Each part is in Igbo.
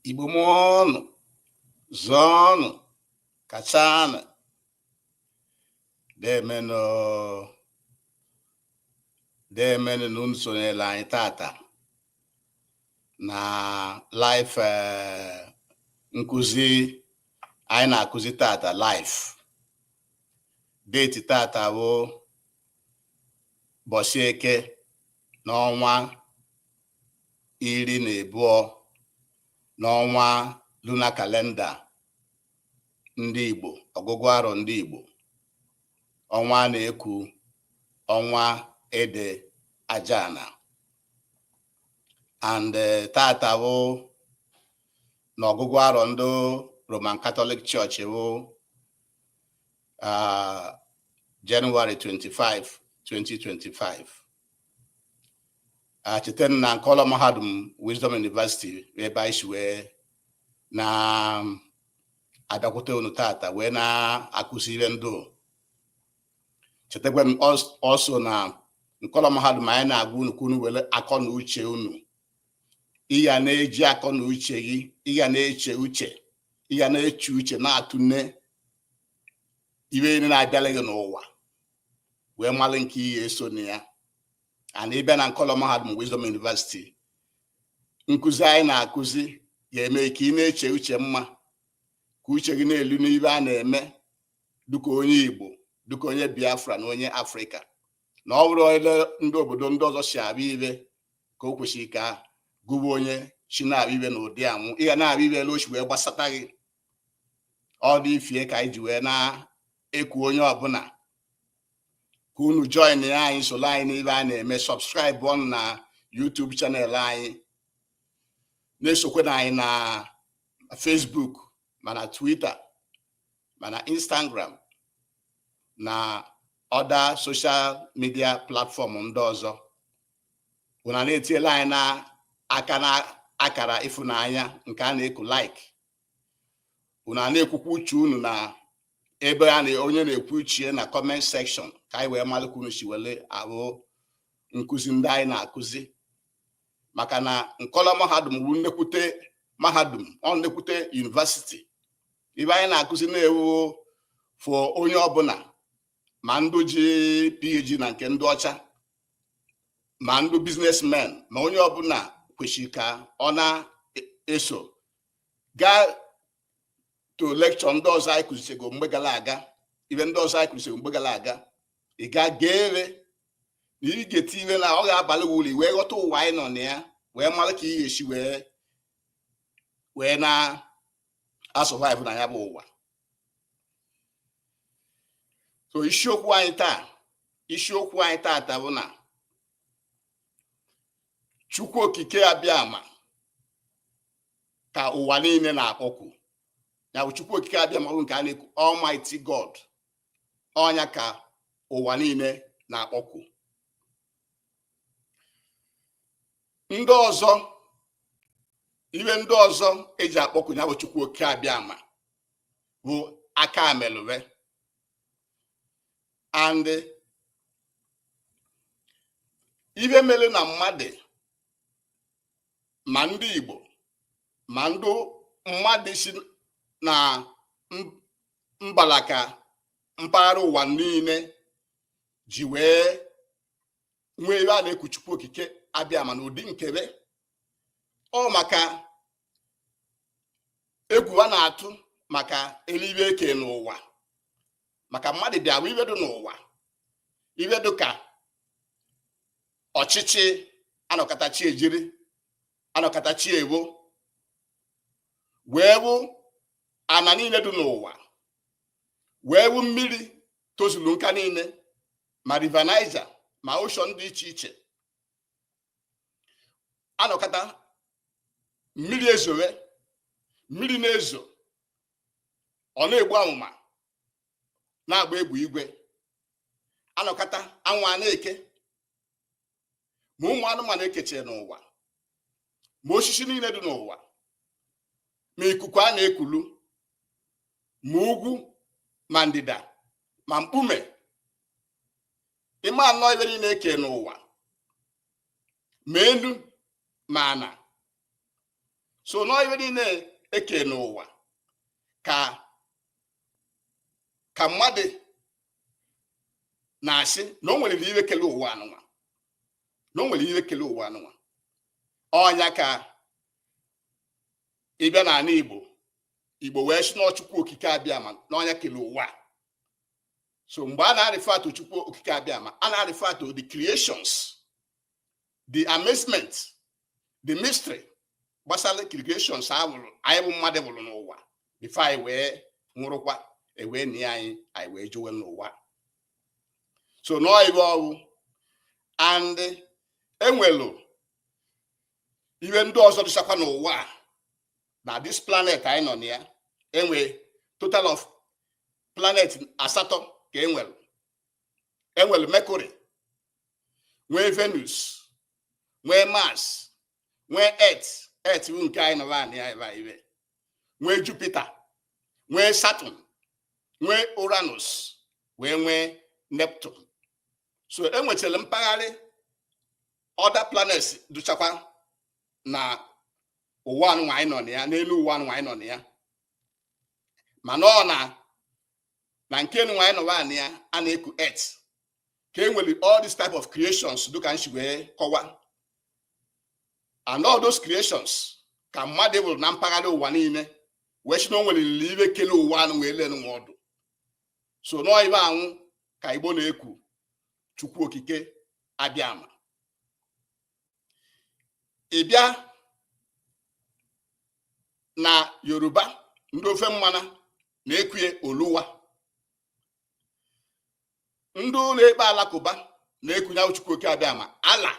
Igbo mụọnụ zụọnụ kachanụ demenụ demenụ na unu sonyela anyị tata na live eh, nkụzi anyị na-akụzi tata live date tata bụ ụbọsị Eke n'ọnwa iri na abụọ n'ọnwa lunar calendar ndị Igbo ọgụgụ arọ ndị Igbo ọnwa a na-eku ọnwa ede ajana and eh, tata bụ na ọgụgụ arọ ndị Roman Catholic Church bụ ah, January 25 2025 cheta na nkọlọ mahadum Wisdom University ebe anyị si wee na-abịakwute unu tata wee na-akụzi ibe ndụ chetakwa m also na nkọlọ mahadum anyị na-agwa unu ka unu were akọ na uche unu ị ya na-eji akọ na uche gị ị ya na-eche uche ị ya na-eche uche na-atụne ibe niile na-abịala gị n'ụwa wee malụ nke ị ya-eso na ya and ị bịa na nkọlọ mahadum Wisdom University nkụzi anyị na-akụzi ya-eme ka ị na-eche uche mma ka uche gị na-elu n'ibe a na-eme dịka onye Igbo dịka onye Biafra na onye Afrịka na ọ bụrụ ele ndị obodo ndị ọzọ si abịa ibe ka o kwesịrị ka gụwa onye si na-abịa ibe na ụdị anwụ ị ga na-abịa ibe ele o si wee gbasata gị ọ ụdị ife a ka anyị ji wee na-eku onye ọbụla ka unu joinia anyị solo anyị n'ibe a na-eme subscribe ọnụ na YouTube channel anyị na-esokwanụ anyị na Facebook ma na Twitter ma na Instagram na other social media platform ndị ọzọ unu na-etiela anyị na aka na akara ịfụnanya nke a na-eku like unu na-ekwukwa uche unu na ebe a na onye na-ekwu uche na comment section ka anyị wee malụ ka unu si wele ahụ nkụzi ndị anyị na-akụzi maka na nkọlọ mahadum bụ nnekwute mahadum ọ nnekwute university ibe anyị na-akụzi na-ewu for onye ọbụla ma ndụ ji PhD na nke ndị ọcha ma ndụ businessmen ma onye ọbụla kwesịrị ka ọ na-eso gaa to lecture ndị ọzọ anyị kụzichego mgbe gara aga ihe ndị ọzọ anyị kụzichego mgbe gara aga ị ga geere na ị gee ntị ihe na ọ ga-abalụ gị uru wee ghọta ụwa anyị nọ na ya wee mara ka ị ga-esi wee wee na-asurvive na ya bụ ụwa so isiokwu anyị taa isiokwu anyị taata bụ na chukwu okike abịama ka ụwa niile na-akpọku ya bụ chukwu okike abịama bụ nke a na-ekwu almighty god ọ nya ka ụwa niile na-akpọku ndị ọzọ ihe ndị ọzọ eji akpọku ya bụ chukwu okike abịama bụ aka amelụwe and ihe mere na mmadụ ma ndị Igbo ma ndị mmadụ si na mbara ka mpaghara ụwa niile ji wee nwee ebe a na-eku Chukwu Okike abịama n'ụdị nke be ọ maka egwu a na-atụ maka elu ihe eke n'ụwa maka mmadụ bịa hụ ihe dụ n'ụwa ihe dụ ka ọchịchị anọkata chi ejiri anọkata chi ebo wee hụ ana niile dị n'ụwa wee hụ mmiri tozuru nka niile ma River Niger ma ocean dị iche iche anọkata mmiri ezowe mmiri na-ezo ọ na-egbu amụma na-agba egbe igwe anọkata anwụ a na-eke ma ụmụ anụmanụ ekeche n'ụwa ma osisi niile dị n'ụwa ma ikuku a na-ekulu ma ugwu ma ndịda ma mkpume ị ma nọ ihe niile eke n'ụwa ma elu ma ana so n'ihe niile eke n'ụwa ka ka mmadụ na-asị na o nwere ihe kele ụwa anụnwa na o nwere ihe kele ụwa anụnwa ọ nya ka ị bịa n'ana Igbo Igbo wee sị n'ọ chukwu okike abịama n'ọ nya kele ụwa so mgbe a na-arefer to chukwu okike abịama a na-arefer to the creations the amazement the mystery gbasara creations anyị bụ mmadụ bụrụ n'ụwa before anyị wee nwụrụkwa ewee nie anyị anyị wee jụwe n'ụwa so nọọ ive ọ wụ and enwelu ihe ndị ọzọ dịchakwa n'ụwa na this planet anyị nọ na ya enwe total of planet asatọ ka enwelu enwelu mercury nwee venus nwee mars nwee earth earth bụ nke anyị nọ na ya e nwee jupiter nwee saturn nwee uranus wee nwee neptune so enwechara mpaghara other planets dụchakwa na ụwa nụnwa anyị nọ na ya n'elu ụwa nụnwa anyị nọ na ya mana ọ na na nke nụnwa anyị nọ na ya a na-eku earth ka e nwere all this type of creations dịka m si wee kọwa and all those creations ka mmadụ bụrụ na mpaghara ụwa niile wee sị na o nwerelili ive kele ụwa anụ wee lenu nwa ọ dụ so nọọ ive anwụ ka igbo na-ekwu chukwu okike abịama ị bịa na yoruba ndị ofe mmanụ na-ekwue oluwa ndị na-ekpe Alakụba na-ekunye Chukwu oke abịama Allah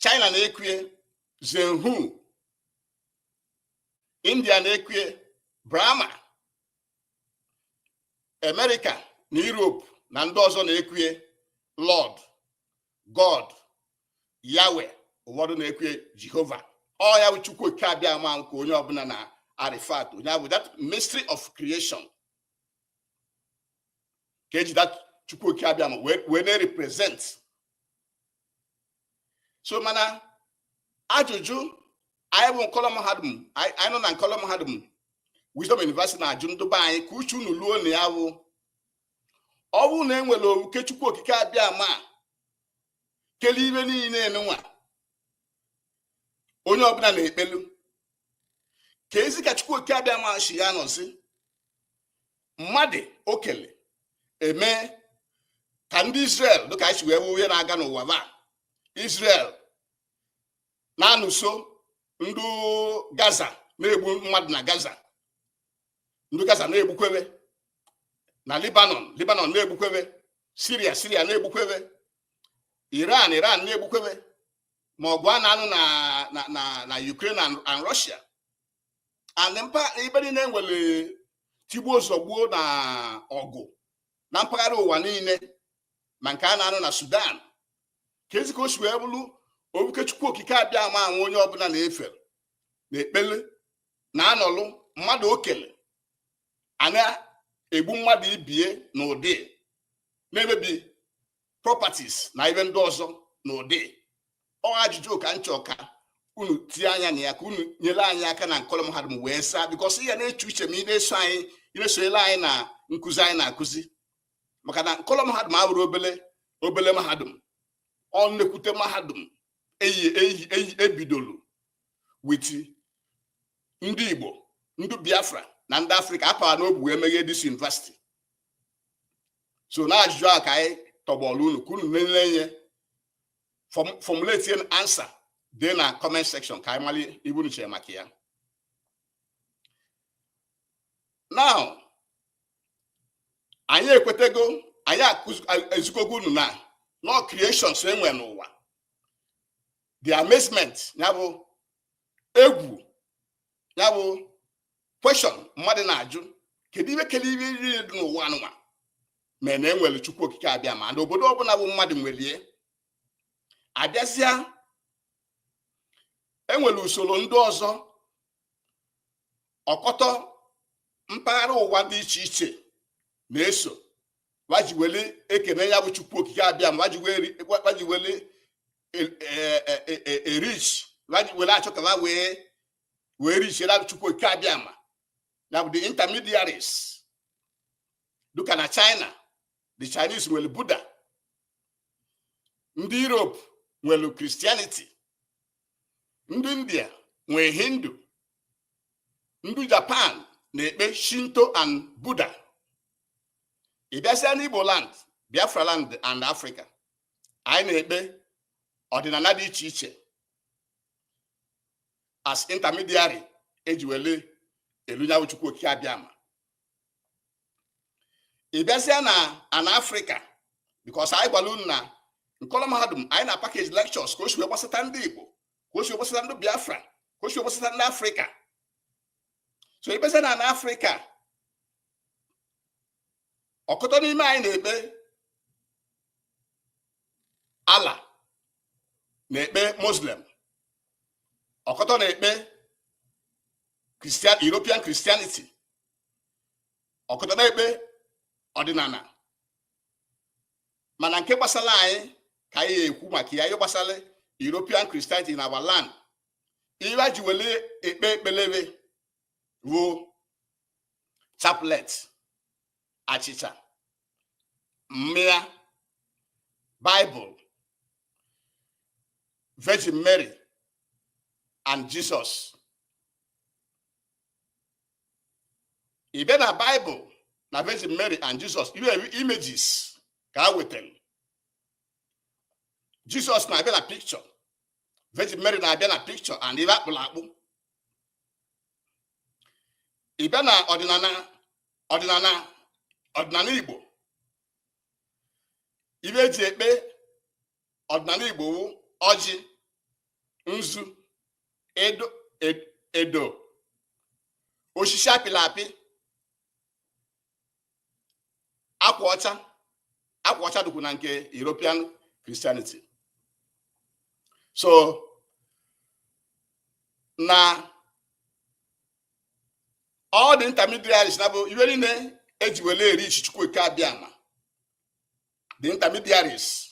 China na-ekwue Zenhu India na-ekwue Brahma America na Europe na ndị ọzọ na-ekwue Lord God Yahweh ụfọdụ na-ekwue Jehovah ọ ya bụ Chukwu oke abịama nke onye ọbụla na-arefer to onye a bụ that mystery of creation ka eji that chukwu okike abịama wee na-represent so mana ajụjụ anyị bụ nkọlọ mahadum anyị nọ na nkọlọ mahadum Wisdom University na-ajụ ndị be anyị ka uche unu luo na ya wụ ọ bụrụ na enwere oke chukwu okike abịama kele ive niile nụnwa onye ọbụla na-ekpelu kezi ka chukwu oke abịama shi ya nọzi mmadụ o kele eme ka ndị Israel dịka anyị si wee hụ ihe na-aga n'ụwa ba Israel na-anụso ndị Gaza na-egbu mmadụ na Gaza ndị Gaza na-egbukwebe na Lebanon Lebanon na-egbukwebe Syria Syria na-egbukwebe Iran Iran na-egbukwebe ma ọgụ a na-anụ na na na Ukraine and Russia and mpa ibe niile nwere tigbuo zọgbuo na ọgụ na mpaghara ụwa niile ma nke a na-anụ na Sudan keezi ka o si wee bụrụ obuke Chukwu Okike Abịama anwụ onye ọbụla na-efe na-ekpele na-anọlụ mmadụ o kele a na-egbu mmadụ ibie na ụdị na-emebi properties na ibe ndị ọzọ na ụdị ọ ajụjụ ka m chọ ka unu tie anya na ya ka unu nyere anyị aka na nkọlọ mahadum wee saa because ị ya na-eche uche ma ị na-eso anyị ị na-esonyere anyị na nkụzi anyị na-akụzi maka na nkọlọ mahadum abụrọ obele mahadum ọ nnekwute mahadum e e e bidolu with ndị Igbo ndị Biafra na ndị Afrịka a para n'obu wee meghee this university so na ajụjụ a ka anyị tọgbọrọ unu ka unu nile nye formulate an answer dee na comment section ka anyị malị ibe unu chere maka ya now anyị ekwetego anyị ezukọgo unu na n'ọ creations e nwe n'ụwa the amazement ya bụ egwu ya bụ question mmadụ na-ajụ kedu ibe kele ibe iri dị n'ụwa anụnwa me na e nwere Chukwu Okike Abịama na obodo ọbụla bụ mmadụ nwelie abịazịa e nwere usoro ndị ọzọ ọkọtọ mpaghara ụwa dị iche iche na-eso wa ji wele ekene ya bụ Chukwu Okike Abịama wa ji wele ereach were achọ ka ha wee wee reachere Chukwu Okike Abịama ya bụ the intermediaries dịka na china the chinese nwere buddha ndị europe nwere christianity ndị india nwee hindu ndị japan na-ekpe shinto and buddha ị bịazịa n'Igbo land Biafra land and Africa anyị na-ekpe ọdịnala dị iche iche as intermediary e ji wele elu nya wụ Chukwu Okike Abịama ị bịazịa na ana Africa because anyị gwara unu na nkọlọ mahadum anyị na package lectures ka o si wee gbasata ndị Igbo ka o si wee gbasata ndị Biafra ka o si wee gbasata ndị Africa so ịbịazịa na n'afrịka ọkụtọ n'ime anyị na-ekpe ala na-ekpe muslim ọkụtọ na-ekpe european christianity ọkụtọ na-ekpe ọdịnala mana nke gbasara anyị ka anyị ekwu maka ya ihe gbasara european christianity na our land ibe e ji wele ekpe ekpele be wụ chaplet achịcha mmịa bible virgin mary and jesus ịbịa na bible na virgin mary and jesus iwe images ka a wetara jesus na-abịa na picture Virgin Mary na-abịa na picture and ibe akpụrụ akpụ ịbịa na ọdịnala ọdịnala ọdịnala Igbo ibe eji ekpe ọdịnala Igbo wụ ọjị nzu edo edo osisi apịla apị akwa ọcha akwa ọcha dịkwu na nke European Christianity so na all the intermediaries na bụ iwe niile eji wele e-reach chukwu okike abịama the intermediaries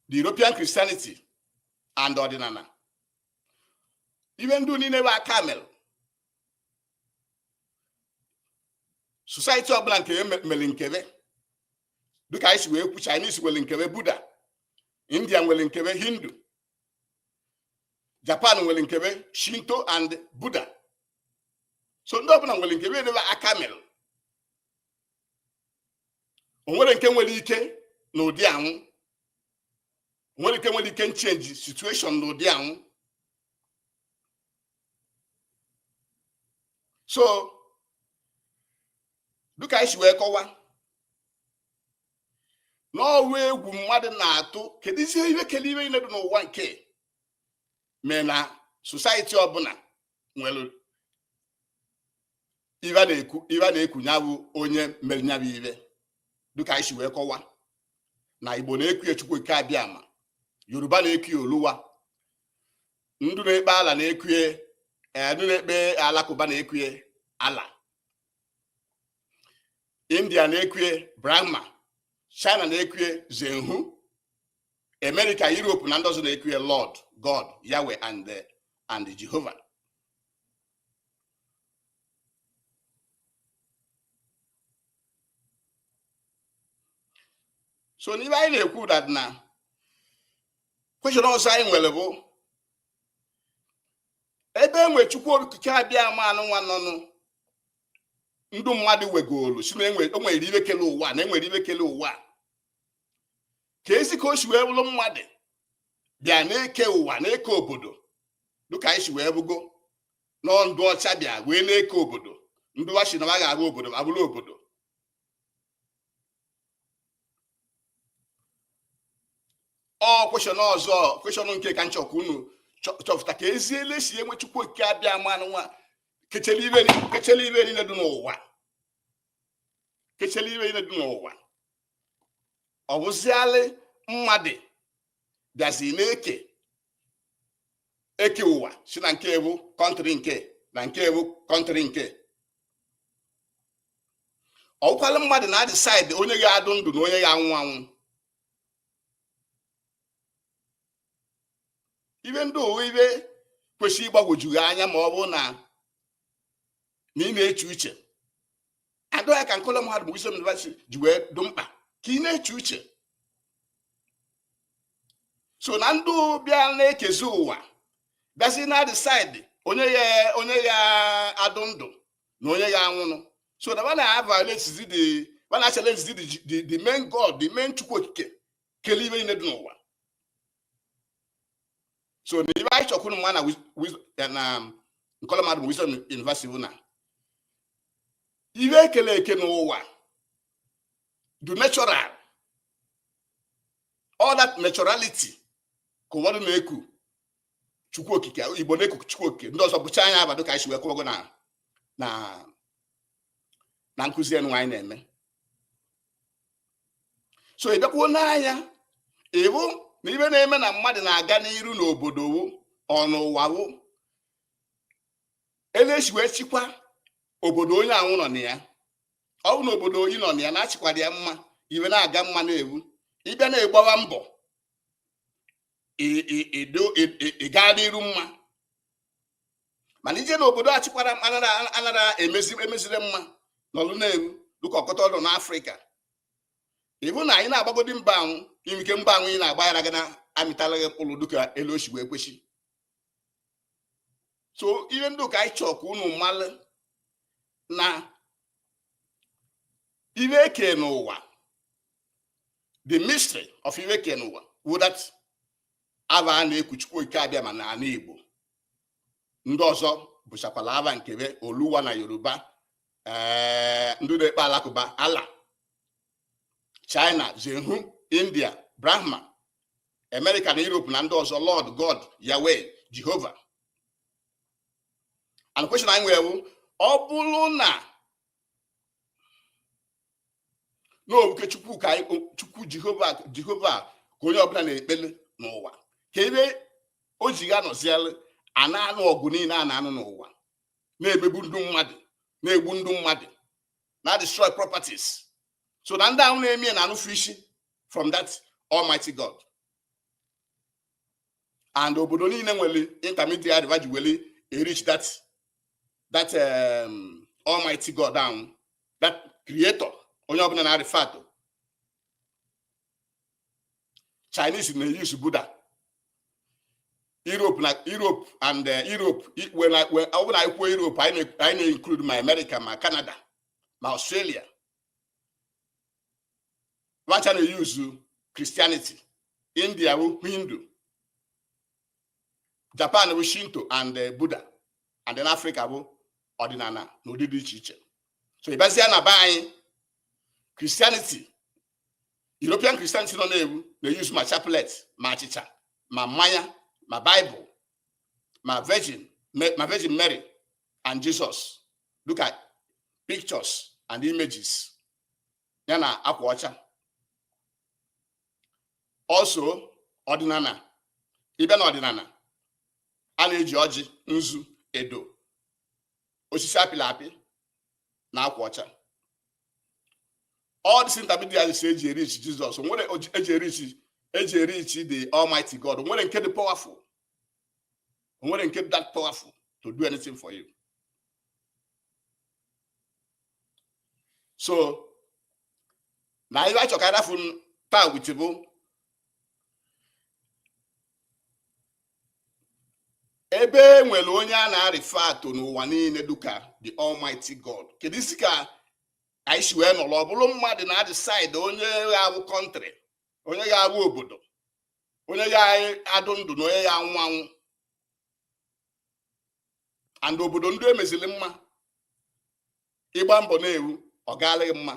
the European Christianity and ọdịnala iwe ndị niile bụ aka mere society ọbụla nke mere nke be dịka anyị si wee kwu Chinese nwere nke be Buddha India nwere nke be Hindu Japan nwere nke be Shinto and Buddha so ndị ọbụla nwere nke be ibe aka mere o nwere nke nwere ike na ụdị anwụ nwere ike nwere ike change situation na ụdị anwụ so dịka anyị si wee kọwa na ọ wụ egwu mmadụ na-atụ keduzi ihe kele ihe niile dị n'ụwa nke mee na society ọbụla nwere ibe a na-ekwu ya bụ onye mere ya bụ ibe dịka anyị si wee kọwa na igbo na-ekwu ya chukwu okike abịama yoruba na-ekwu ya oluwa ndụ na-ekpe ala na-ekwue eh, ndụ na-ekpe alakụba na-ekwue allah india na-ekwue brahma china na-ekwue zenhu america europe na ndị ọzọ na-ekwue lord god yahweh and eh, and jehova so n'ihe anyị na-ekwu that na question ọzọ anyị nwere bụ ebe e nwe chukwu okike abịama anụnwa nọnụ ndụ mmadụ wegolu sị na e nwere e ihe kele ụwa na e nwere ihe kele ụwa kezi ka o si wee bụrụ mmadụ bịa na-eke ụwa na-eke obodo dịka anyị si wee hụgo nọọ ndụ ọcha bịa wee na-eke obodo ndị wa sị na ha ga-abụ obodo abụrụ obodo ọ question ọzọ question nke ka m chọkwa unu chọpụta kezi ele e si e nwe chukwu okike abịama anụnwa kechele ihe niile dị n'ụwa kechele ihe niile dị n'ụwa ọ wụzialị mmadụ bịazi na-eke eke ụwa sị na nke e wụ country nke na nke e wụ country nke ọ wụkwalị mmadụ na-edecide onye ya-adụ ndụ na onye ya-anwụ anwụ ihe ndị a wụ ihe kwesịrị ịgbagwoju gị anya ma ọ bụ na na ị na-eche uche and ọ ya ka nkọlọ mahadum bụ Wisdom University ji wee dụ mkpa ka ị na-eche uche so na ndụ bịa na-ekezi ụwa bịazi na-edecide onye ya onye ya-adụ ndụ na onye ya-anwụnụ so na wa na-aviolatezi the wa na-achallengezi the the main god the main chukwu okike kele ihe niile dị n'ụwa so na ihe anyị chọkwuru ịma na nkọlọ mahadum Wisdom University bụ na ihe e kele eke n'ụwa dụ natural all that naturality ka ụfọdụ na-eku chukwu okike igbo na-eku chukwu okike ndị ọzọ bụcha nya aha dụ ka anyị si wee kwugo na na na nkụzi enu anyị na-eme so ị bịakwuo nee anya ị hụ na ihe na-eme na mmadụ na-aga n'iru n'obodo wụ ọ n'ụwa wụ ele e si wee chịkwa obodo onye ahụ nọ na ya ọ bụ na obodo ị nọ na ya na a chịkwara ya mma ihe na-aga mma na-ewu ị bịa na-egbawa mbọ ị gaa n'iru mma mana ije na obodo achịkwara anara emezi emezire mma n'ọlụ na-eru dịka ọkọta ọdụ n'afrịka ị hụ na anyị na-agbagodi mbọ ahụ imike mbọ ahụ ị na-agba yara gị na amịtalaghị mkpụrụ dịka elu o si wee kwesị so ihe ndị a ka anyị chọọ ka unu malụ na ihe eke n'ụwa the mystery of ihe eke n'ụwa wụ that ava a na-eku Chukwu Okike Abịama n'ala Igbo ndị ọzọ bụchakwala ava nke ve oluwa na yoruba ee ndị na-ekpe alakụba allah china zehu india brahma amerịka na europe na ndị ọzọ lord god yahweh jehova and question anyị nwere ọ bụrụ na na ọ bụ oke chukwu ka chukwu jehova jehova ka onye ọbụla na-ekpele n'ụwa kee ebe o ji ya nọziela a na-anụ ọgụ niile a na-anụ n'ụwa na-emegbu ndị mmadụ na-egbu ndị mmadụ na-adestroy properties so na ndị ahụ na-eme na anụfụ isi from that almighty god and obodo niile nwere intermediary va ji weli e-reach that that um, almighty god ahụ that creator onye ọbụla na-arefer to chinese na-use buddha europe na europe and uh, europe i- when I- when- ọ bụrụ na anyị kwuo europe anyị na- anyị na-include ma america ma canada ma australia va cha na-use Christianity India bụ Hindu Japan bụ Shinto and eh, Buddha and then Africa bụ ọdịnala na ụdị dị iche iche so ị bịazia na be anyị Christianity European Christianity nọ na-ewu na-use ma chaplet ma achịcha ma mmanya ma Bible ma Virgin ma Virgin Mary and Jesus look at pictures and images ya na akwa ọcha also ọdịnala ị bịa na ọdịnala a na-eji ọjị nzu edo osisi apịla apị na akwa ọcha all these intermediaries e ji e-reach jesus wee e ji e-reach e ji e-reach the almighty god o nwere nke dị powerful o nwere nke dị that powerful to do anything for you so na ive a chọ ka adafu taa wuchi bụ ebe e nwere onye a na-arefer to n'ụwa niile duka the almighty god keduzi ka anyị si wee nọrọ ọ bụrụ mmadụ na-adecide onye ga-abụ country onye ga-abụ obodo onye ga-adụ ndụ na onye ga-anwụ anwụ and obodo ndị emezili mma ịgba mbọ na-ewu ọ gaala gị mma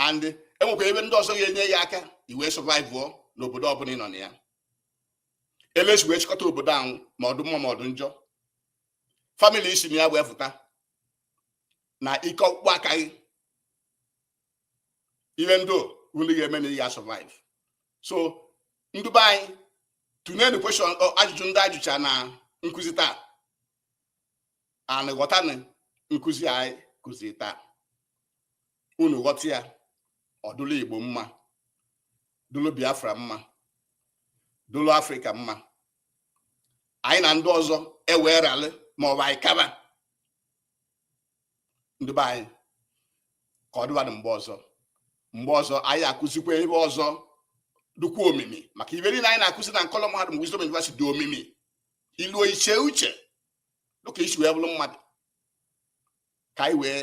and enwekwa ife ndị ọzọ ga-enye ya aka ị wee survivụọ n'obodo ọbụla ị nọ na ya elesi wee chịkọta obodo ahụ ma ọ dụ mma ma ọ dụ njọ family i si na ya wee fụta na ike ọkpụkpụ aka gị ihe ndị ahụ ị ga-eme na ị ga-survive so ndị be anyị tụnyenụ question ajụjụ ndị ajụcha na nkụzi taa and ghọtanụ nkụzi anyị kụzi taa unu ghọta ya ọ dụlụ Igbo mma dụlụ Biafra mma dụlụ Africa mma anyị na ndị ọzọ ewee ralị maọbụ anyị kaba ndị be anyị ka ọ dịbadị mgbe ọzọ mgbe ọzọ anyị akụzikwa ife ọzọ dịkwa omimi maka ife niile anyị na-akụzi na nkọlọ mahadum Wisdom University dị omimi iluo iche uche dịka i si wee bụrụ mmadụ ka anyị wee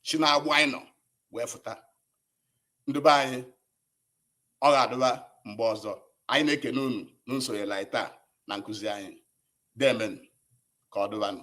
si n'agbụ anyị nọ wee fụta ndị be anyị ọ ga-adịba mgbe ọzọ anyị na-ekene unu na nsonyela anyị taa na nkụzi anyị deemenụ ka ọ dịbanụ